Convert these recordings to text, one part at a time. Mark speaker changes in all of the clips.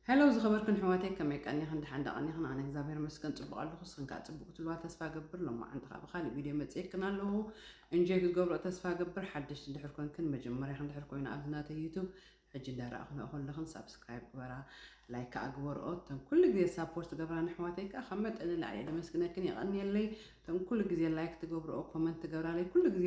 Speaker 1: Hello ዝኸበርክን ኣሕዋተይ ከመይ ቀኒኽን ደሓን ዶ ቀኒኽን ኣነ እግዚኣብሔር ይመስገን ጽቡቕ ኣለኹ ንስኽን ከኣ ጽቡቕ ክትብልዋ ተስፋ እገብር ሎማዓንቲ ከኣ ብኻልእ ቪድዮ መጺኤክን ኣለኹ እንጆይ ክትገብሮ ተስፋ እገብር ሓደሽቲ እንድሕር ኮንክን መጀመርያኽን እንድሕር ኮይኑ ኣብዚ ናተይ ዩቱብ ሕጂ እንዳረኣኽንኦ ከለኽን ሳብስክራይብ ግበራ ላይክ ከኣ ግበርኦ እተን ኩሉ ግዜ ሳፖርት ገብራን ኣሕዋተይ ከኣ ካብ መጠን ንላዕሊ እየ ደመስግነክን የቐንየለይ እቶም ኩሉ ግዜ ላይክ ትገብርኦ ኮመንት ትገብራለይ ኩሉ ግዜ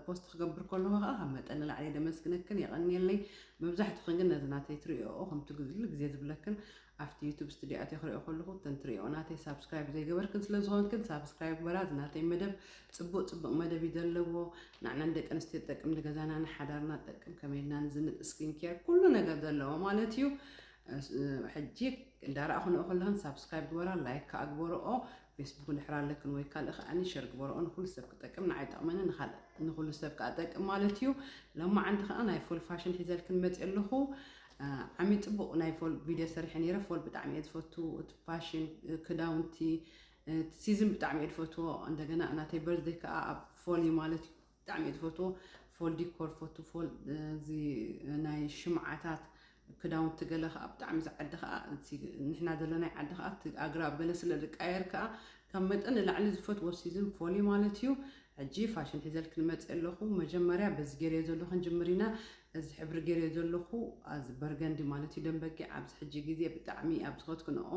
Speaker 1: ፖስት ክገብር ከለኩ ከኣ ካብ መጠን ንላዕሊ እየ ደመስግነክን የቀንየለይ መብዛሕትክን ግን ነዚ ናተይ ትርእይኦ ከምቲ ኩሉ ግዜ ዝብለክን ኣብቲ ዩቱብ ስትድዮ ኣትየ ክርእዮ ከለኩ እተን ትርእይኦ ናተይ ሳብስክራይብ ዘይገበርክን ስለ ዝኮንክን ሳብስክራይብ ግበራ እዚ ናተይ መደብ ጽቡቅ ጽብቅ መደብ እዩ ዘለዎ ናዕና ንደቂ ኣንስትዮ ትጠቅም ንገዛና ንሓዳርና ትጠቅም ከመይ ኢልና ንዝንጥ ስኪን ኬር ኩሉ ነገር ዘለዎ ማለት እዩ ሕጂ እንዳረኣኹ ንኦ ከለክን ሳብስክራይብ ግበራ ላይክ ከኣ ግበርኦ ፌስቡክ ንሕር ኣለክን ወይ ካልእ ከኣኒ ሸር ግበርኦ ንኩሉ ሰብ ክጠቅም ንዓይ ይጠቅመኒ ንካልእ ንኩሉ ሰብ ከኣ ጠቅም ማለት እዩ ሎማዓንቲ ከኣ ናይ ፎል ፋሽን ሒዘልክን መጽ ኣለኩ ዓሚ ጽቡቅ ናይ ፎል ቪድዮ ሰሪሐ ነይረ ፎል ብጣዕሚ እየ ዝፈቱ እቲ ፋሽን ክዳውንቲ ሲዝን ብጣዕሚ እየ ዝፈትዎ እንደገና ናተይ በርዝደይ ከኣ ኣብ ፎል እዩ ማለት እዩ ብጣዕሚ እየ ትፈትዎ ፎል ዲኮር ፈቱ ፎል እዚ ናይ ሽምዓታት ክዳውንቲ ገለ ከዓ ብጣዕሚ እዚ ዓዲ ከዓ እቲ ንሕና ዘለናይ ዓዲ ከዓ እቲ ኣግራብ ገለ ስለ ዝቃየር ከዓ ካብ መጠን ንላዕሊ ዝፈትዎ ሲዝን ፎል እዩ ማለት እዩ ሕጂ ፋሽን ሒዘልክ ንመፅእ ኣለኹ መጀመርያ በዚ ገይረዮ ዘለኹ ክንጅምር ኢና እዚ ሕብሪ ገይረዮ ዘለኹ ኣዚ በርገንዲ ማለት እዩ ደም በጊዕ ኣብዚ ሕጂ ግዜ ብጣዕሚ ኣብ ዝኸትክንኦ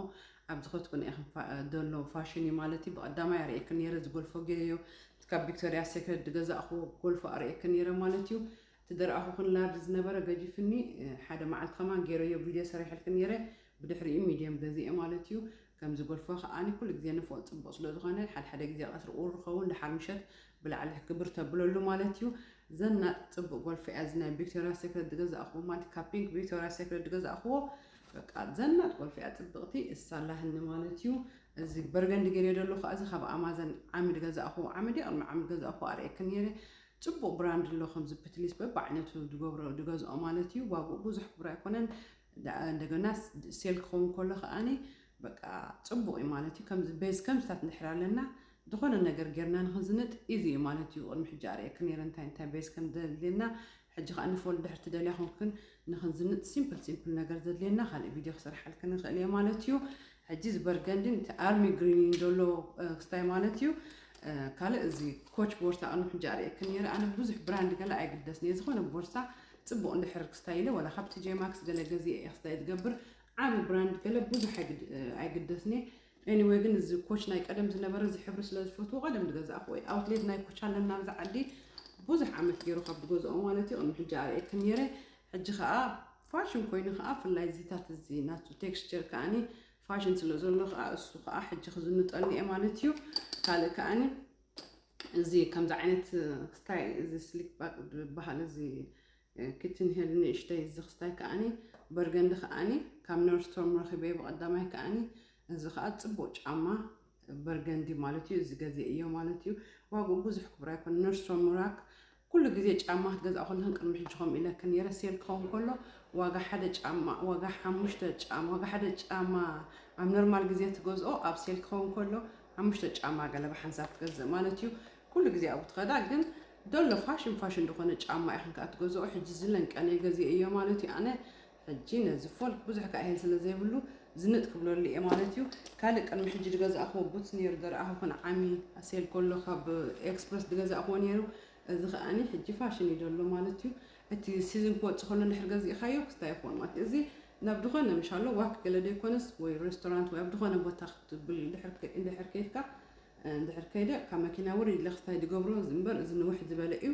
Speaker 1: ኣብ ዝኸትኩን ኢኽን ደሎ ፋሽን እዩ ማለት እዩ ብቀዳማይ ኣርእየክን ነይረ ዝጎልፎ ገይረዮ እቲ ካብ ቪክቶርያ ሴክሬት ዝገዛእኽዎ ጎልፎ ኣርእየክን ነይረ ማለት እዩ እቲ ደርኣኹክን ላርጅ ዝነበረ ገጂፍኒ ሓደ መዓልቲ ከማን ገይረዮ ቪድዮ ሰሪሐልክን ነይረ ብድሕሪኡ ሚድየም ገዚኤ ማለት እዩ ከምዚ ጎልፎ ከኣ ኩሉ ግዜ ንፎእ ጽቡቅ ስለ ዝኾነ ሓድሓደ ግዜ ቀትሪ ቁሩብ ኸውን ደሓር ምሸት ብላዕሊ ግብር ተብለሉ ማለት እዩ። ዘናጥ ጽቡቅ ጎልፎ እያ እዚ ናይ ቪክቶርያ ሴክሬት ዝገዛእክዎ ማለት ካብ ፒንክ ቪክቶርያ ሴክሬት ዝገዛእክዎ በቃ ዘናጥ ጎልፎ እያ ጽብቅቲ እሳላህኒ ማለት እዩ። እዚ በርገንዲ ገይረ ደሎ ከኣ እዚ ካብ ኣማዘን ዓሚ ዝገዛእክዎ ዓሚ ድየ ቅድሚ ዓሚ ዝገዛእክዎ ኣርእየኪ ነይረ ጽቡቅ ብራንድ ኣሎ ከምዚ ፕትሊስ በብዓይነቱ ዝገብሮ ዝገዝኦ ማለት እዩ ዋግኡ ብዙሕ ክቡር ኣይኮነን። ደኣ እንደገና ሴል ክኸውን ከሎ ከኣ በቃ ጽቡቕ እዩ ማለት እዩ ከምዚ ቤዝ ከምዚታት እንድሕር ኣለና ዝኾነ ነገር ጌርና ንኽንዝንጥ ኢዚ እዩ ማለት እዩ ቅድሚ ሕጂ ኣርእየኪ ኔረ እንታይ እንታይ ቤዝ ከም ዘድልየና ሕጂ ከኣ ንፎል ድሕር ትደልያ ኮንክን ንኽንዝንጥ ሲምፕል ሲምፕል ነገር ዘድልየና ካልእ ቪድዮ ክሰርሓልክን ንኽእል እየ ማለት እዩ ሕጂ እዚ በርገንዲ ንቲ ኣርሚ ግሪን ዶሎ ክስታይ ማለት እዩ ካልእ እዚ ኮች ቦርሳ ቅድሚ ሕጂ ኣርእየክን ነይረ ኣነ ብዙሕ ብራንድ ገለ ኣይግደስን እየ ዝኾነ ቦርሳ ጽቡቕ እንድሕር ክስታይ ኢለ ወላ ካብ ቲጄ ማክስ ገለ ገዜ እየ ክስታይ ዝገብር ዓቢ ብራንድ ገለ ብዙሕ ኣይግደስን እየ ኤኒወይ ግን እዚ ኮች ናይ ቀደም ዝነበረ እዚ ሕብሪ ስለ ዝፈትዎ ቀደም ዝገዛእኩ ወይ ኣውትሌት ናይ ኮች ኣለና ኣብዚ ዓዲ ብዙሕ ዓመት ገይሩ ካብ ዝገዝኦ ማለት እዩ ቅድሚ ሕጂ ኣርእየክን ነይረ ሕጂ ከዓ ፋሽን ኮይኑ ከኣ ፍላይ እዚታት እዚ ናቱ ቴክስቸር ከኣኒ ፋሽን ስለ ዘሎ ከኣ እሱ ከኣ ሕጂ ክዝንጠኒ እየ ማለት እዩ ካልእ ከኣኒ እዚ ከምዚ ዓይነት ክስታይ እዚ ስሊክ ባክ ዝበሃል እዚ ኪትን ሄል ንእሽተይ እዚ ክስታይ ከኣኒ በርገንዲ ከኣኒ ካብ ነርስቶርም ረኺበ ብቐዳማይ ከኣኒ እዚ ከኣ ጽቡቕ ጫማ በርገንዲ ማለት እዩ እዚ ገዜ እዮ ማለት እዩ ዋግኡ ብዙሕ ክቡር ኣይኮነ ነርሶ ምራክ ኩሉ ግዜ ጫማ ክትገዝኣ ከለኽን ቅድሚ ሕጂ ከምኡ ኢለክን ነይረ ሴል ክኸውን ከሎ ዋጋ ሓደ ጫማ ዋጋ ሓሙሽተ ጫማ ዋጋ ሓደ ጫማ ኣብ ኖርማል ግዜ ትገዝኦ ኣብ ሴል ክኸውን ከሎ ሓሙሽተ ጫማ ገለባ ሓንሳብ ትገዝእ ማለት እዩ ኩሉ ግዜ ኣብኡ ትኸዳ ግን ደሎ ፋሽን ፋሽን ዝኾነ ጫማ ኢኽን ከዓ ትገዝኦ ሕጂ ዝለንቀነ ገዜ እዮ ማለት እዩ ኣነ ሕጂ ነዚ ፎልክ ብዙሕ ካኢህን ስለ ዘይብሉ ዝንጥ ክብለሉ ኢየ ማለት ኢዩ። ካልእ ቅድሚ ሕጂ ድገዛእክዎ ቡትስ ኔሩ ደርኣኹ ክንዓሚ ኣሴል ኮሎ ካብ ኤክስፕረስ ድገዛእክዎ ኔሩ እዚ ከኣኒ ሕጂ ፋሽን ኢዩ ደሎ ማለት ኢዩ። እቲ ሲዝን ክወጽእ ከሎ እንድሕር ገዚእካዮ ክስታይ ይኸውን ማለት ኢዩ። እዚ ናብ ድኾነ ምሻሎ ዋክ ገለ ዶ ኣይኮነስ ወይ ሬስቶራንት ወይ ኣብ ድኾነ ቦታ ክትብል እንድሕር ከይድካ እንድሕር ከይደ ካብ መኪና ውሪድ ኢለ ክስታይ ድገብሮ እዚ እምበር እዚ ንውሕ ዝበለ ኢዩ።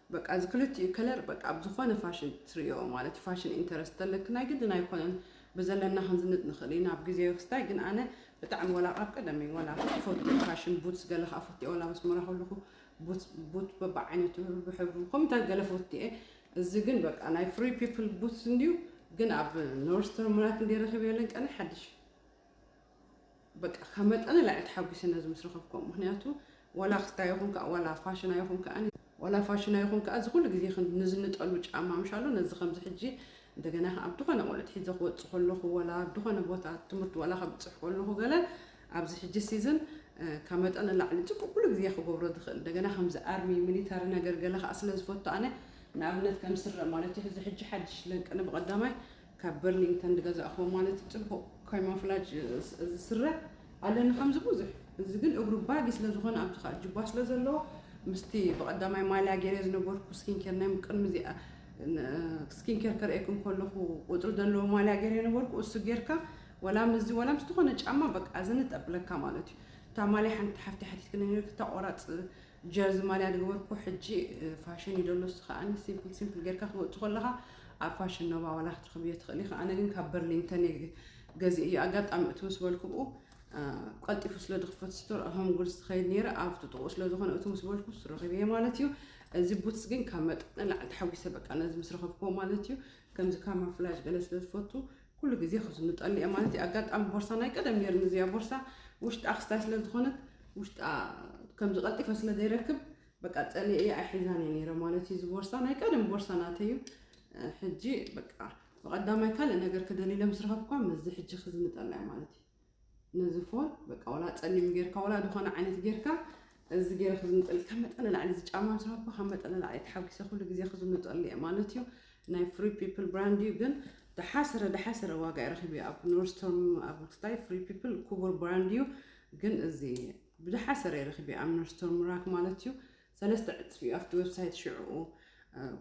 Speaker 1: በቃ እዚ ክልቲኡ ከለር በቃ ኣብ ዝኾነ ፋሽን ትርእዮ ማለት እዩ ፋሽን ኢንተረስት ተለኪ ናይ ግድን ኣይኮነን ብዘለና ክንዝንጥ ንኽእል ኢና ኣብ ግዜ ክስታይ ግን ኣነ ብጣዕሚ ወላ ካብ ቀደም እዩ ወላ ፈቱ ፋሽን ቡትስ ገለ ከዓ ፈቱ እየ ወላ መስመራ ከለኹ ቡት ቡት በብዓይነቱ ብሕብሩ ከምታት ገለ ፈቱ እየ እዚ ግን በቃ ናይ ፍሪ ፒፕል ቡትስ እንድዩ ግን ኣብ ኖርስተር ምራት እንዲ ረኺበ የለን ቀነ ሓድሽ በቃ ካብ መጠነ ላዕሊ ተሓጒሰ ነዚ ምስ ረኸብኩዎ ምኽንያቱ ዋላ ክስታይ ይኹን ከኣ ዋላ ፋሽን ኣይኹን ከኣ ዋላ ፋሽን ኣይኹን ከኣ እዚ ኩሉ ግዜ ንዝንጠሉ ጫማ ምሻሎ ነዚ ከምዚ ሕጂ እንደገና ኣብ ድኾነ ቆልዑት ሒዘ ክወጽእ ከለኹ ዋላ ኣብ ድኾነ ቦታ ትምህርቲ ዋላ ከብጽሕ ከለኹ ገለ ኣብዚ ሕጂ ሲዝን ካብ መጠነ ላዕሊ ጽቡቅ ኩሉ ግዜ ክገብሮ ዝኽእል እንደገና ከምዚ ኣርሚ ሚሊታሪ ነገር ገለ ከኣ ስለ ዝፈቱ ኣነ ንኣብነት ከም ስረ ማለት እዩ እዚ ሕጂ ሓድሽ ለንቅነ ብቀዳማይ ካብ በርሊንግተን ድገዛእክዎ ማለት ጽቡቅ ካይማፍላጅ እዚ ስረ ኣለኒ ከምዚ ቡዙሕ እዚ ግን እግሩ ባጊ ስለ ዝኮነ ኣብዚ ከኣ ጁባ ስለ ዘለዎ ምስቲ ብቀዳማይ ማልያ ጌሬ ዝነበርኩ ስኪንኬር ናይ ቅድሚ እዚኣ ስኪንኬር ከርእየኩም ከለኩ ቁጽሪ ዘለዎ ማልያ ጌሬ ነበርኩ እሱ ጌርካ ወላ ምስዚ ወላ ምስ ዝኮነ ጫማ በቃ ዝንጥ ኣብለካ ማለት እዩ እታ ማልያ ሓንቲ ሓፍተይ ሓቲትክኒ ኔርኪ እታ ቆራጽ ጀርዚ ማልያ ድገበርኩ ሕጂ ፋሽን እዩ ደሎ እሱ ከኣ ሲምፕል ሲምፕል ጌርካ ክትወጽእ ከለኻ ኣብ ፋሽን ኖባ ዋላ ክትረኽብዮ ትኽእሊ ኢኻ ኣነ ግን ካብ በርሊንተን ገዚእዮ ኣጋጣሚ እቲ ምስ በልኩብኡ ቀልጢፉ ስለ ዝኽፈት ስቶር ኣሆም ጉድስ ትኸይድ ነይረ ኣብ ጥጥቑኡ ስለ ዝኾነ እቲ ምስ በልኩ ረኺበየ ማለት እዩ እዚ ቡትስ ግን ካብ መጠን ንላዕሊ ተሓጒሰ በቃ ነዚ ምስ ረኸብክዎ ማለት እዩ ከምዚ ካማፍላጅ ገለ ስለ ዝፈቱ ኩሉ ግዜ ክዝንጠሉ እየ ማለት እዩ ኣጋጣሚ ቦርሳ ናይ ቀደም ነይርኒ እዚኣ ቦርሳ ውሽጣ ክስታይ ስለ ዝኾነት ውሽጣ ከምዚ ቀልጢፈ ስለ ዘይረክብ በቃ ጸልየ እየ ኣይሒዛን እየ ነይረ ማለት እዩ እዚ ቦርሳ ናይ ቀደም ቦርሳ ናተይ እዩ ሕጂ በቃ ብቐዳማይ ካልእ ነገር ክደልለ ምስ ረኸብኳ ምስዚ ሕጂ ክዝንጠላ እየ ማለት እዩ ነዚ ፎን በቃ ወላ ጸሊም ጌርካ ወላ ዝኾነ ዓይነት ጌርካ እዚ ገይረ ክዝንጠል ካብ መጠን ንላዕሊ እዚ ጫማ ምስ ረኸብኩ ካብ መጠን ንላዕሊ ተሓጒሰ ኩሉ ግዜ ክዝንጠሉ እየ ማለት እዩ ናይ ፍሪ ፒፕል ብራንድ እዩ ግን ደሓስረ ደሓስረ ዋጋ ይረኽብ እዩ ኣብ ኖርስቶርም ኣብ ትታይ ፍሪ ፒፕል ክቡር ብራንድ እዩ ግን እዚ ብደሓስረ ይረኽብ እዩ ኣብ ኖርስቶርም ራክ ማለት እዩ ሰለስተ ዕጽፊ ኣብቲ ዌብሳይት ሽዑ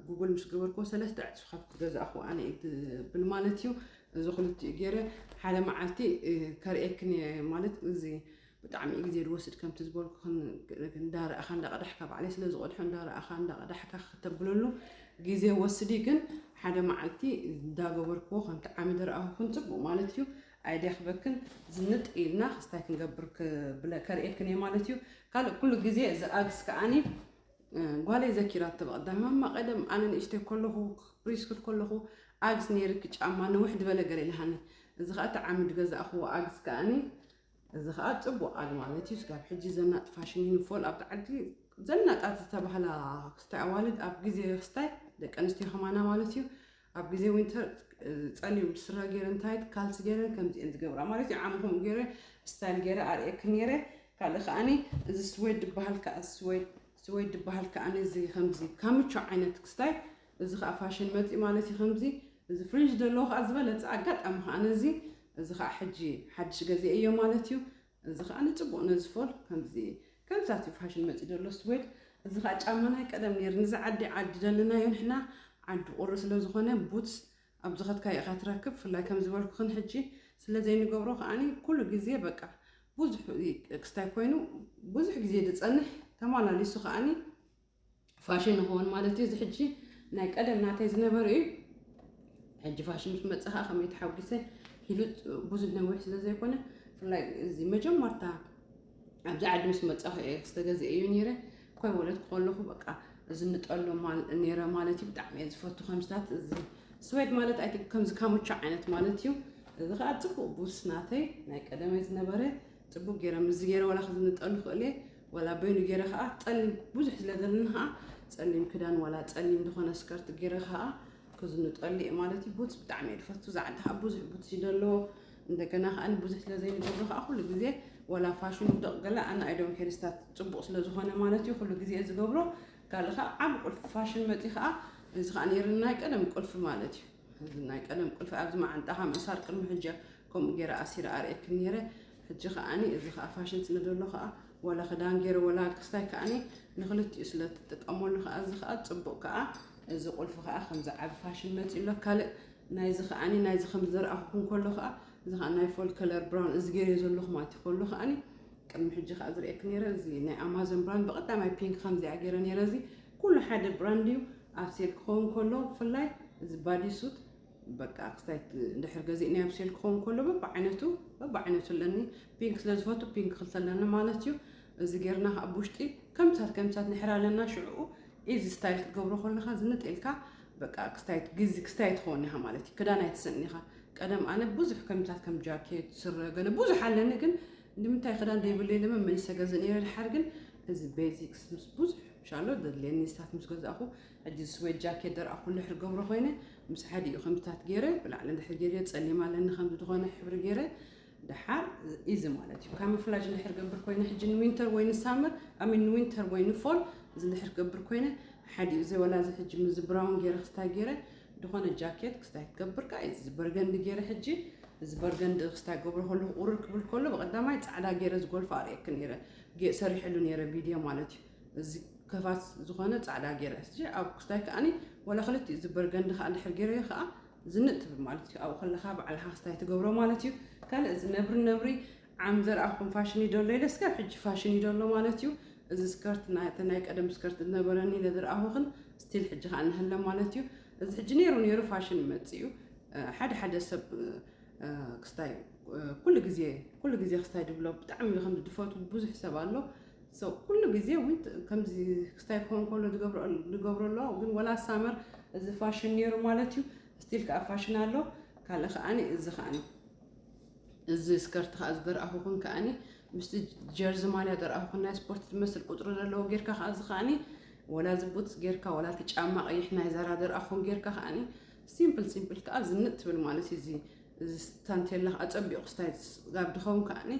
Speaker 1: ጉግል ምስ ገበርክዎ ሰለስተ ዕጽፊ ካብ ዝገዛእኹ ኣነ እዩ ትብል ማለት እዩ እዚ ክልቲኡ ገይረ ሓደ መዓልቲ ከርእየክን እየ ማለት እዚ ብጣዕሚ እዩ ግዜ ዝወስድ ከምቲ ዝበልኩክን እንዳረእኻ እንዳቐዳሕካ ባዕለይ ስለ ዝቐድሖ እንዳረእኻ እንዳቐዳሕካ ክተብለሉ ግዜ ወስዲ ግን ሓደ መዓልቲ እንዳገበርክዎ ከምቲ ዓሚ ዝረኣኹክን ፅቡቅ ማለት እዩ ኣይደክበክን ዝንጥ ኢልና ክስ ታይ ክንገብር ክብለ ከርእየክን እየ ማለት እዩ ካልእ ኩሉ ግዜ እዚ ኣግስ ከኣኒ ጓለይ ዘኪራቶ ብቐዳም ማማ ቀደም ኣነ ንእሽተይ ከለኹ ፕሪስኩል ከለኹ ኣግስ ነይርኪ ጫማ ንውሕ ድበለ ገለ ኢልሃኒ እዚ ከዓ እቲ ዓምድ ገዛእኽዎ ኣግስ ከኣኒ እዚ ከዓ ፅቡቅ ኣግ ማለት እዩ ስጋብ ሕጂ ዘናጥ ፋሽን ይንፎል ኣብቲ ዓዲ ዘናጣት ዝተባህላ ክስታይ ኣዋልድ ኣብ ግዜ ክስታይ ደቂ ኣንስትዮ ከማና ማለት እዩ ኣብ ግዜ ዊንተር ጸሊም ስረ ጌረን ታይት ካልሲ ጌረን ከምዚ እየን ዝገብራ ማለት እዩ ዓሚ ከምኡ ጌረ ስታይል ጌረ ኣርእየክን ኔረ ካልእ ከኣኒ እዚ ስዌድ ድበሃል ከኣ ስዌድ ስዌድ ድበሃል ከኣኒ እዚ ከምዚ ካምቾ ዓይነት ክስታይ እዚ ከዓ ፋሽን መፂ ማለት እዩ ከምዚ እዚ ፍሪንጅ ዘለዎ ከዓ ዝበለፀ ኣጋጣሚ ከዓ ነዚ እዚ ከዓ ሕጂ ሓድሽ ገዜ እዮ ማለት እዩ እዚ ከኣ ንጽቡቅ ነዚ ፎል ከምዚ ከምዛት እዩ ፋሽን መጺኡ ዘሎ ስዌድ እዚ ከኣ ጫማ ናይ ቀደም ነይሩ ንዚ ዓዲ ዓዲ ደለናዮ ንሕና ዓዲ ቁሪ ስለ ዝኾነ ቡትስ ኣብ ዝኸትካዮ ኢኻ ትረክብ ፍላይ ከም ዝበልኩኽን ሕጂ ስለ ዘይንገብሮ ከኣኒ ኩሉ ግዜ በቃ ብዙሕ ክስታይ ኮይኑ ብዙሕ ግዜ ድጸንሕ ተማላሊሱ ከኣኒ ፋሽን ይኸውን ማለት እዩ። እዚ ሕጂ ናይ ቀደም ናተይ ዝነበረ እዩ። ሕጂ ፋሽን ምስ መፀ ከዓ ከመይ ተሓጒሰ ኢሉ ብዙሕ ነዊሕ ስለ ዘይኮነ ብፍላይ እዚ መጀመርታ ኣብዚ ዓዲ ምስ መፀኹ እየ ዝተገዝአ እዩ ነይረ ኮይ ወለት ከለኹ በቃ እዚ ንጠሎ ነይረ ማለት እዩ። ብጣዕሚ እየ ዝፈቱ ከምስታት እዚ ስዌድ ማለት ኣይ ከምዚ ካሙቻ ዓይነት ማለት እዩ። እዚ ከዓ ፅቡቅ ቡስ ናተይ ናይ ቀደመይ ዝነበረ ጽቡቅ ጌረ ምስዚ ጌረ ዋላ ክዝንጠሉ ይኽእል እየ ዋላ በይኑ ጌረ ከኣ ጸሊም ብዙሕ ስለ ዘለኒ ከኣ ጸሊም ክዳን ዋላ ጸሊም ዝኾነ ስከርት ጌረ ከኣ ክዝንጠሉ እየ ማለት እዩ ቡትስ ብጣዕሚ እየ ዝፈቱ እዛ ዓዲ ከዓ ብዙሕ ቡትስ እዩ ዘለዎ እንደገና ከዓ ብዙሕ ስለ ዘይንገብሮ ከዓ ኩሉ ግዜ ዋላ ፋሽን ውደቕ ገለ ኣነ ኣይዶም ኬርስታት ጽቡቕ ስለ ዝኾነ ማለት እዩ ኩሉ ግዜ ዝገብሮ ካልእ ከዓ ዓብ ቁልፊ ፋሽን መፂ ከዓ እዚ ከዓ ነይርና ቀደም ቁልፊ ማለት እዩ እዚ ናይ ቀደም ቁልፊ ኣብዚ መዓንጣኻ ምእሳር ቅድሚ ሕጂ ከምኡ ገይረ ኣሲረ ኣርእየኪ ነይረ ሕጂ ከኣኒ እዚ ከኣ ፋሽን ስለ ዘሎ ከኣ ወላ ክዳን ገይረ ወላ ክስታይ ከኣኒ ንክልቲኡ ስለ ትጥቀመሉ ከኣ እዚ ከኣ ጽቡቅ ከኣ እዚ ቁልፊ ከኣ ከምዚ ዓቢ ፋሽን መጺኡ ኣሎ ካልእ ናይዚ ከኣኒ ናይዚ ከም ዘርኣኹኩም ከሎ ከኣ እዚ ከኣ ናይ ፎል ከለር ብራውን እዚ ገይረ ዘለኹ ማለት እዩ ከሎ ከኣኒ ቅድሚ ሕጂ ከኣ ዝርእየኪ ነይረ እዚ ናይ ኣማዞን ብራንድ ብቀዳማይ ፒንክ ከምዚኣ ገይረ ነይረ እዚ ኩሉ ሓደ ብራንድ እዩ ኣብ ሴል ክኸውን ከሎ ብፍላይ እዚ ባዲ ሱት በቃ ክስታይ ድሕር ገዚእኒ ኣብ ሴል ክኸውን ከሎ በብዓይነቱ በብዓይነቱ ኣለኒ ፒንክ ስለ ዝፈቱ ፒንክ ክልተ ኣለኒ ማለት እዩ እዚ ጌርና ከዓ ብውሽጢ ከምሳት ከምሳት ንሕር ኣለና ሽዕኡ ኢዚ ስታይል ክትገብሮ ከለካ ዝንጥ ኢልካ በቃ ክስታይት ግዚ ክስታይ ትኸውን ኢኻ ማለት እዩ ክዳን ኣይትስእን ኢኻ ቀደም ኣነ ብዙሕ ከምታት ከም ጃኬት ስረ ገለ ብዙሕ ኣለኒ ግን ንምንታይ ክዳን ዘይብለይ ለመ መልሰ ገዝ ነረ ድሓር ግን እዚ ቤዚክስ ምስ ብዙሕ ሻሎ ዘድልየኒ ስታት ምስ ገዛእኹ ሕጂ እዚ ስዌድ ጃኬት ደርኣኹ እንድሕር ዝገብሮ ኮይነ ምስ ሓዲኡ ከምዚታት ጌረ ብላዕሊ እንድሕር ጌርዮ ጸሊም ኣለኒ ከምዚ ዝኾነ ሕብሪ ጌረ ደሓር ኢዚ ማለት እዩ ካሞፍላጅ እንድሕር ገብር ኮይነ ሕጂ ንዊንተር ወይ ንሳመር ኣሚን ንዊንተር ወይ ንፎል እዚ እንድሕር ገብር ኮይነ ሓዲኡ እዚ ወላ እዚ ሕጂ ምዚ ብራውን ጌረ ክስታይ ጌረ ዝኾነ ጃኬት ክስታይ ክገብር ከኣ እዚ በርገንዲ ጌረ ሕጂ እዚ በርገንዲ ክስታይ ገብሮ ከለኹ ቁርር ክብል ከሎ ብቐዳማይ ጻዕዳ ጌረ ዝጎልፎ ኣርእየኪ ነይረ ጌጽ ሰሪሐሉ ኔረ ቪድዮ ማለት እዩ እዚ ከፋት ዝኾነ ጻዕዳ ጌረ እዚ ኣብ ክስታይ ከኣኒ ወላ ክልቲኡ እዚ በርገንዲ ከኣ ድሕር ጌረዮ ከኣ ዝንጥ ትብል ማለት እዩ ኣብኡ ከለኻ ባዕልኻ ክስታይ ትገብሮ ማለት እዩ ካልእ እዚ ነብሪ ነብሪ ዓም ዘርኣኹም ፋሽን እዩ ደሎ ኢለ ስጋብ ሕጂ ፋሽን እዩ ደሎ ማለት እዩ እዚ ስከርት ናተ ናይ ቀደም ስከርት ዝነበረኒ ኢለ ዝረኣኹኽን ስቲል ሕጂ ከዓ ንህለ ማለት እዩ እዚ ሕጂ ነይሩ ነይሩ ፋሽን መፅኡ ሓደ ሓደ ሰብ ክስታይ ኩሉ ግዜ ኩሉ ግዜ ክስታይ ድብሎ ብጣዕሚ እዩ ከምዚ ድፈቱ ብዙሕ ሰብ ኣሎ ኩሉ ግዜ እውን ከምዚ ክስታይ ክኸውን ከሎ ድገብሮ ኣለዋ ግን ወላ ሳመር እዚ ፋሽን ነይሩ ማለት እዩ ስቲል ከዓ ፋሽን ኣሎ ካልእ ከዓኒ እዚ ከዓኒ እዚ ስከርቲ ከዓ ዝደርኣኹኹን ከዓኒ ምስቲ ጀርዚ ማልያ ደርኣኹኹን ናይ ስፖርት ዝመስል ቁፅሪ ዘለዎ ጌርካ ከዓ እዚ ከዓኒ ወላ እዚ ቡትስ ጌርካ ወላ እቲ ጫማ ቀይሕ ናይ ዛራ ደርኣኹን ጌርካ ከዓኒ ሲምፕል ሲምፕል ከዓ ዝንጥ ትብል ማለት እዩ እዚ እዚ ታንቴላ ከኣ ጸቢቁ ክስታይ ጋብ ድከውን ከኣኒ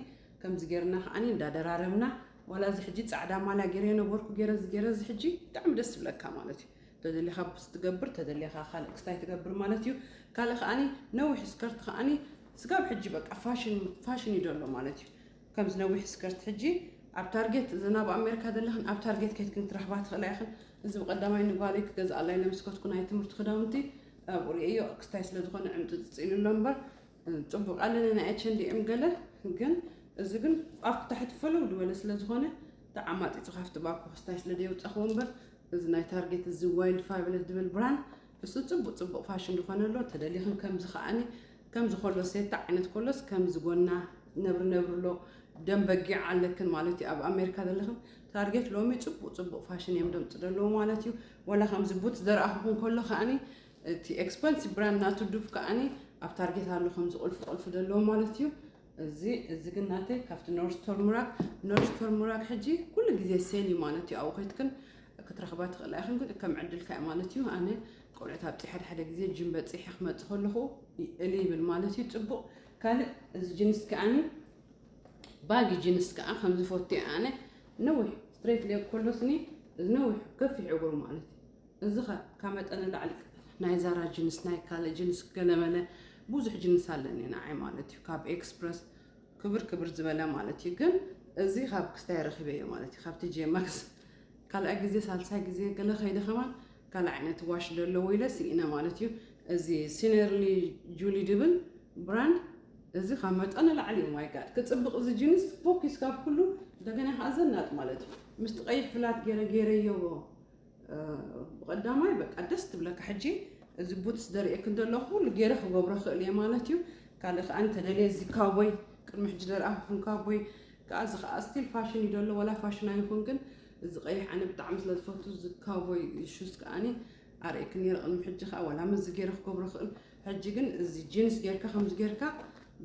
Speaker 1: ከምዚ ጌርና ከኣኒ እንዳ ደራረብና ዋላ እዚ ሕጂ ጻዕዳ ማልያ ጌረ የነበርኩ ጌረ እዚ ጌረ እዚ ሕጂ ብጣዕሚ ደስ ዝብለካ ማለት እዩ ተደሊኻ ቡስ ትገብር ተደሊኻ ካልእ ክስታይ ትገብር ማለት እዩ ካልእ ከኣኒ ነዊሕ ስከርት ከኣኒ ስጋብ ሕጂ በቃ ፋሽን ፋሽን እዩ ዘሎ ማለት እዩ ከምዚ ነዊሕ ስከርት ሕጂ ኣብ ታርጌት እዘን ኣብ ኣሜሪካ ዘለኽን ኣብ ታርጌት ኬትክን ክትረኽባ ትኽእላ ኢኽን። እዚ ብቐዳማይ ንጓለይ ክገዝኣላ ኢለ ምስ ከድኩ ናይ ትምህርቲ ክዳውንቲ ኣብኡ ርእየዮ ክስታይ ስለ ዝኾነ ዕምጥጥፅ ኢሉ ኣሎ እምበር ፅቡቕ ኣለኒ ናይ ኤች ኤንድ ኤም ገለ ግን እዚ ግን ኣብ ታሕቲ ፈለው ዝበለ ስለ ዝኾነ ተዓማጢፁ ካብቲ ባኮ ክስታይ ስለ ደየውፀኽዎ እምበር እዚ ናይ ታርጌት እዚ ዋይልድ ፋብለስ ዝብል ብራንድ እሱ ጽቡቅ ጽቡቅ ፋሽን ዝኾነ ኣሎ ተደሊኽን ከምዚ ከኣኒ ከምዚ ኮሎ ሴታ ዓይነት ኮሎስ ከምዚ ጎና ነብሪ ነብሪ ኣሎ ደም በጊዕ ኣለክን ማለት እዩ ኣብ ኣሜሪካ ዘለኽን ታርጌት ሎሚ ጽቡቅ ጽቡቅ ፋሽን እዮም ደምጽ ደለዎ ማለት እዩ ወላ ከምዚ ቡት ዘርኣኹኹን ኮሎ ከኣኒ እቲ ኤክስፐንሲቭ ብራንድ ናቱ ዱፍ ከኣኒ ኣብ ታርጌት ኣሎ ከምዚ ቁልፊ ቁልፊ ደለዎ ማለት እዩ እዚ እዚ ግን ናተይ ካብቲ ኖርዝ ቶርሙራክ ኖርዝ ቶርሙራክ ሕጂ ኩሉ ግዜ ሴል እዩ ማለት እዩ ኣብኡ ከይትክን ክትረኽባ ትኽእላ ኢኽን ግን ከም ዕድልካ እዩ ማለት እዩ ኣነ ቆልዑት ኣብፂ ሓደ ሓደ ግዜ ጅም በፂሐ ክመፅ ከለኹ እል ይብል ማለት እዩ ፅቡቅ ካልእ እዚ ጅንስ ከዓኒ ባጊ ጅንስ ከዓ ከምዝፈቱ ኣነ ነዊሕ ስትሬት ሌግ ኮሎስኒ ነዊሕ ከፊሕ እግሩ ማለት እዩ እዚ ከ ካብ መጠን ንላዕሊ ናይ ዛራ ጅንስ ናይ ካልእ ጅንስ ገለመለ ብዙሕ ጅንስ ኣለኒ ንዓይ ማለት እዩ ካብ ኤክስፕረስ ክብር ክብር ዝበለ ማለት እዩ ግን እዚ ካብ ክስታይ ረኺበዮ ማለት እዩ ካብቲ ጄማክስ ካልኣይ ግዜ ሳልሳይ ግዜ ገለ ከይደ ከማን ካልእ ዓይነት ዋሽ ዘለዎ ኢለ ስኢነ ማለት እዩ እዚ ሲነርሊ ጁሊ ድብል ብራንድ እዚ ካብ መጠን ንላዕሊ እዩ ማይ ጋድ ክፅብቕ እዚ ጅንስ ፎኪስ ካብ ኩሉ እንደገና ከዓ ዘናጥ ማለት እዩ ምስቲ ቀይሕ ፍላት ገይረ ገይረዮ ብቀዳማይ በቃ ደስ ትብለካ ሕጂ እዚ ቡትስ ደርእየክን ዘለኹ ኩሉ ገይረ ክገብሮ ክእል እየ ማለት እዩ ካልእ ከዓ እንተደልየ እዚ ካቦይ ቅድሚ ሕጂ ደርኣኹም ካቦይ ከዓ እዚ ከዓ ስቲል ፋሽን እዩ ዘሎ ወላ ፋሽን ኣይኹን ግን እዚ ቀይሕ ኣነ ብጣዕሚ ስለ ዝፈቱ እዚ ካቦይ ሹዝ ከዓኒ ኣርእየክን ነይረ ቅድሚ ሕጂ ከዓ ዋላ ምስዚ ገይረ ክገብሮ ክእል ሕጂ ግን እዚ ጂንስ ጌርካ ከምዚ ጌርካ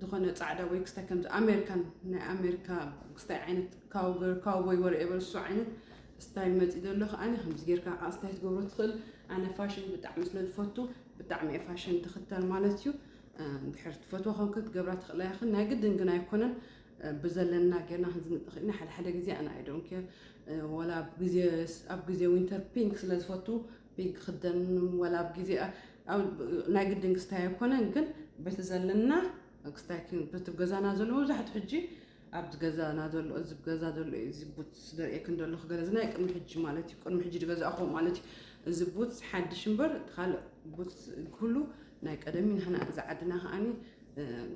Speaker 1: ዝኾነ ጻዕዳ ወይ ክስታይ ከምዚ ኣሜሪካን ናይ ኣሜሪካ ክስታይ ዓይነት ካውገር ካውቦይ ወር ኤቨር እሱ ዓይነት ስታይል መጺእ ዘሎ ከዓኒ ከምዚ ጌርካ ከዓ ስታይ ትገብሮ ትኽእል ኣነ ፋሽን ብጣዕሚ ስለ ዝፈቱ ብጣዕሚ እየ ፋሽን ትኽተል ማለት እዩ እንድሕር ትፈትዎ ከም ክትገብራ ትኽእላ ይኽን ናይ ግድን ግን ኣይኮነን ብዘለና ጌርና ክንዝንጥኽ ኢና ሓደ ሓደ ግዜ ኣነ ኣይዶን ኬር ወላ ኣብ ግዜ ዊንተር ፒንክ ስለ ዝፈቱ ቤት ክኽደን ወላ ኣብ ግዜ ናይ ግድን ክስታይ ኣይኮነን ግን በቲ ዘለና ክስታይ በቲ ገዛና ዘሎ መብዛሕትኡ ሕጂ ኣብ ገዛና ዘሎ እዚ ገዛ ዘሎ እዩ እዚ ቡትስ ዘርእየክን ዘለኹ ገለ እዚ ናይ ቅድሚ ሕጂ ማለት እዩ ቅድሚ ሕጂ ዝገዛእኹ ማለት እዩ እዚ ቡትስ ሓድሽ እምበር እቲ ካልእ ቡትስ ኩሉ ናይ ቀደም እዩ ንሕና እዚ ዓድና ከዓኒ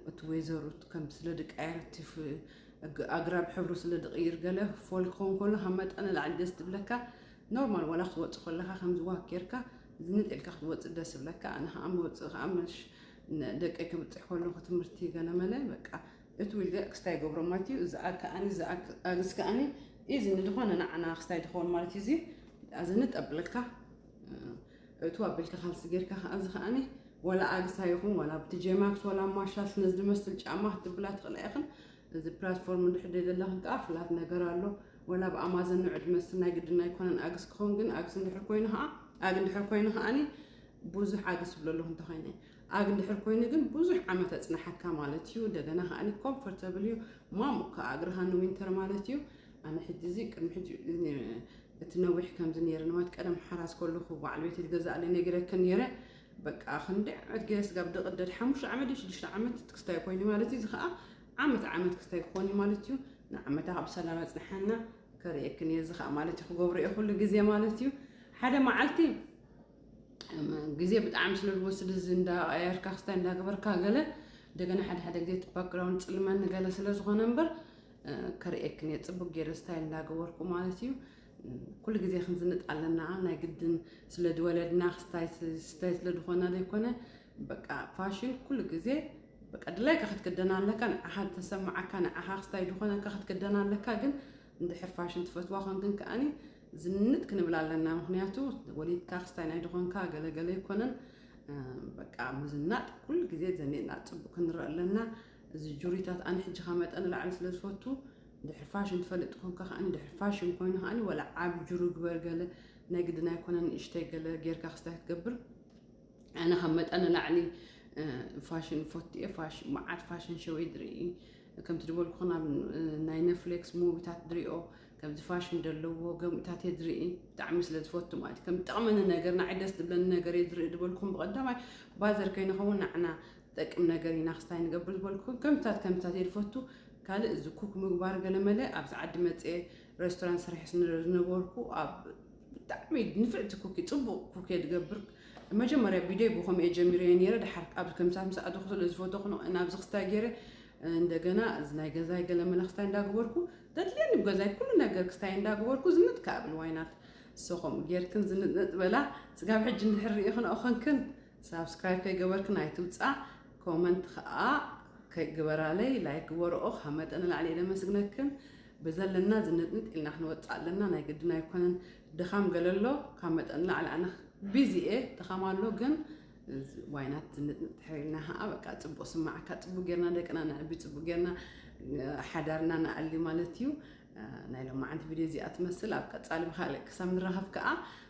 Speaker 1: እቲ ወይዘሩ ከም ስለ ድቃየር እቲ ኣግራብ ሕብሩ ስለ ድቕይር ገለ ፎል ክኸውን ከሎ ካብ መጠን ንላዕሊ ደስ ትብለካ ኖርማል ዋላ ክትወጽእ ኮለካ ከምዚ ዋክ ጌርካ ዝንጥ ኢልካ ክትወጽእ ደስ ይብለካ ኣነ ከኣ መውጽኢ ከኣ መሽ ደቀይ ክብጽሕ ኮለኩ ትምህርቲ ገለመለ በቃ እቲ ዊልገ ክስታይ ገብሮ ማለት እዩ እዚ ከኣኒ እዚ ኣግስ ከኣኒ ኢዚ ንዝኾነ ንዓና ክስታይ ዝኸውን ማለት እዩ እዚ ኣዝንጥ ኣብለካ እቱ ኣቢልካ ካልሲ ጌርካ ከኣ እዚ ከኣኒ ወላ ኣግሳ ይኹን ወላ ብትጀማክስ ወላ ማሻስ ነዚ ዝመስል ጫማ ክትብላ ትኽእላ ኢኽን እዚ ፕላትፎርም እንድሕር ደይደለኺ ከኣ ፍላት ነገር ኣሎ ወላ ብ ኣማዘን ን ዕድመ ስናይ ግድን ኣይኮነን ኣግስ ክኸውን ግን ኣግስ እንድሕር ኮይኑ ከኣ ኣግ እንድሕር ኮይኑ ከኣኒ ብዙሕ ኣግስ ይብሎ ኣለኹ እንተኾይነ ኣግ እንድሕር ኮይኑ ግን ብዙሕ ዓመት ኣጽናሓካ ማለት እዩ እንደገና ከኣኒ ኮምፎርታብል እዩ ማሙቅ ከኣ እግርኻ ን ዊንተር ማለት እዩ ኣነ ሕጂ እዚ ቅድሚ ሕጂ እቲ ነዊሕ ከምዚ ነይረ ንማት ቀደም ሓራስ ከለኹ በዓል ቤት ገዛእለይ ነጊረክን ነይረ በቃ ክንዲ ዓመት ገይረ ስጋብ ደቂ ደድ ሓሙሽተ ዓመት ድዩ ሽዱሽተ ዓመት ክስታይ ኮይኑ ማለት እዩ። እዚ ከዓ ዓመት ዓመት ክስታይ ክኾን እዩ ማለት እዩ። ንዓመታ ካብ ሰላም ኣፅንሓና ከርእየክን እየ እዚ ከዓ ማለት እዩ ክገብሮ እየ ኩሉ ግዜ ማለት እዩ። ሓደ መዓልቲ ግዜ ብጣዕሚ ስለ ዝወስድ እዚ እንዳቀያየርካ ክስታይ እንዳገበርካ ገለ እንደገና ሓደ ሓደ ግዜ እቲ ባክግራውንድ ፅልመኒ ገለ ስለ ዝኾነ እምበር ከርእየክን እየ ፅቡቅ ገይረ ስታይል እንዳገበርኩ ማለት እዩ። ኩሉ ግዜ ክንዝንጥ ኣለና ናይ ግድን ስለ ዝወለድና ክስታይ ስታይ ስለ ዝኾና ዘይኮነ በቃ ፋሽን ኩሉ ግዜ በቃ ድላይካ ክትክደና ኣለካ ንዓኻ ተሰማዓካ ንዓኻ ክስታይ ዝኾነካ ክትክደና ኣለካ ግን እንድሕር ፋሽን ትፈትዋ ኮንክን ከኣኒ ዝንጥ ክንብል ኣለና ምክንያቱ ወሊድካ ክስታይ ናይ ድኾንካ ገለገለ ይኮነን በቃ ምዝናጥ ኩሉ ግዜ ዘኒጥና ፅቡቅ ክንረአ ኣለና እዚ ጁሪታት ኣነ ሕጂኻ መጠን ላዕሊ ስለ ዝፈቱ ድሕሪ ፋሽን ትፈልጥ ተኾንካ ከኣኒ ድሕሪ ፋሽን ኮይኑ ከኣኒ ወላ ዓቢ ጅሩ ግበር ገለ ናይ ግድን ኣይኮነን ንእሽተይ ገለ ጌርካ ክስታይ ክትገብር ኣነ ካብ መጠን ንላዕሊ ፋሽን ፎቲ እየ ፋሽን መዓት ፋሽን ሸወይ ድርኢ ከምቲ ዝበልኩ ናብ ናይ ነፍሌክስ ሙቪታት ድሪኦ ከምዚ ፋሽን ዘለዎ ገምታት እየ ድርኢ ብጣዕሚ ስለ ዝፈቱ ማለት ከም ጠቕመኒ ነገር ንዓይ ደስ ዝብለኒ ነገር እየ ዝርኢ ዝበልኩም ብቐዳማይ ባዘር ከይንኸውን ንዓና ጠቅም ነገር ኢና ክስታይ ንገብር ዝበልኩኩም ከምታት ከምታት እየ ዝፈቱ ካልእ እዚ ኩክ ምግባር ገለመለ ኣብዚ ዓዲ መፅኤ ሬስቶራንት ሰሪሐ ስለ ዝነበርኩ ኣብ ብጣዕሚ ንፍዕቲ ኩክ ፅቡቅ ኩክ እየ ዝገብር መጀመርያ ቪድዮ ብከምኡ እየ ጀሚረዮ ነይረ ድሓር ኣብዚ ከምታት ምስ ኣተኩ ስለ ዝፈተኩ ን- ናብዚ ክስታይ ገይረ እንደገና እዚ ናይ ገዛይ ገለመለ ክስታይ እንዳግበርኩ ተድልየኒ ብገዛይ ኩሉ ነገር ክስታይ እንዳግበርኩ ዝንጥ ክኣ ብል ዋይናት እሶ ከምኡ ጌርክን ዝንጥነጥ በላ ስጋብ ሕጂ እንድሕር ርኢክንኦ ኮንክን ሳብስክራይብ ከይገበርክን ኣይትውጻእ ኮመንት ከኣ ከይ ግበራለይ ላይክ ግበርኦ ካብ መጠን ንላዕሊ እየ ለመስግነክን ብዘለና ዝንጥንጥ ኢልና ክንወጽእ ኣለና ናይ ግድን ኣይኮነን ድኻም ገለ ኣሎ ካብ መጠን ንላዕሊ ኣነ ቢዚ እየ ድኻም ኣሎ ግን ዋይናት ዝንጥንጥ ድሕር ኢልና ከዓ በቃ ጽቡቅ ስማዕካ ጽቡቅ ጌርና ደቅና ነዕቢ ጽቡቅ ጌርና ሓዳርና ንኣሊ ማለት እዩ ናይ ሎማዓንቲ ቪድዮ እዚኣ ትመስል ኣብ ቀፃሊ ብካልእ ክሳብ ንራኸብ ከዓ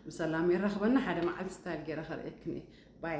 Speaker 1: ብሰላም የራኽበና ሓደ መዓልቲ ስታይል ገይረ ከርእየክን እየ ባይ